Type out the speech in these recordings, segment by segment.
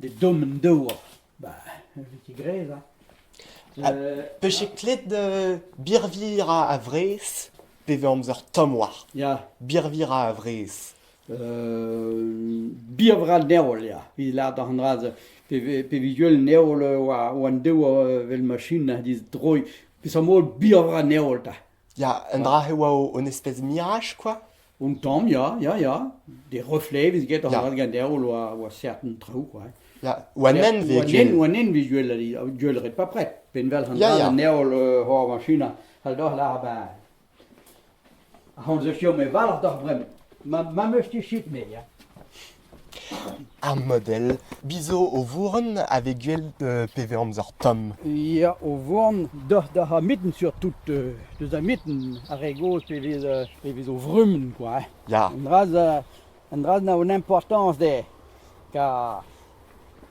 Ne dommen dezho. Bah, evit e grez, hein. Peche klet birvir a vrez pe vez amzer tomm war? Ya. Birvir a vrez. birvra neol, ya. Evit lâret an dra pe vez ul neol war an dev vel machin a dizh droiñ. Peseurt mod birvra neol ta? Ya, un dra e oa o- un espèce mirage, quoi. Un tamm, ya, ya, ya. Des reflets vez get an Ya. dra ganeoù oa, oa certain traoù, quoi. Ya, oa nen vez Oa nen, ken. oa nen vez gwell al- gwell ret pa pret. Penvel an Ya, dra ya. ganeoù euh, hor machina, al doh lar ben. Hon se sur me valc'h doc'h bremañ. Ma, ma meus ket shit me, ya. Ar modell Biz zo o vourenn a vez gwell pe vez amzer tomm. Ya, o vourenn da c'hamiten surtout, deus amiten ar re gozh pe vez pe vez o vrumenn kwa hein. Ya. Un dra un dra a an importanañs dezhe, ka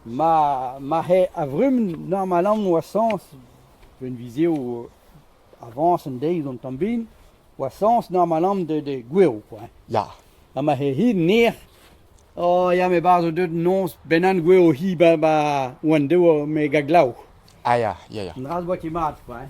ma ma c'he a vrumenn normalamant 'oa sañs, un viz eo avañs an deiz an tamm bin, gwashañs normalamp de, de goueroù kwa. Ya. Ha ma he hir ner, oh ya, me barzh zo deuet noz bennak goueroù hi ba, ba, oan dev me ga glav. Ah ya, ya, ya. An dra 'z boa ket mat kwa.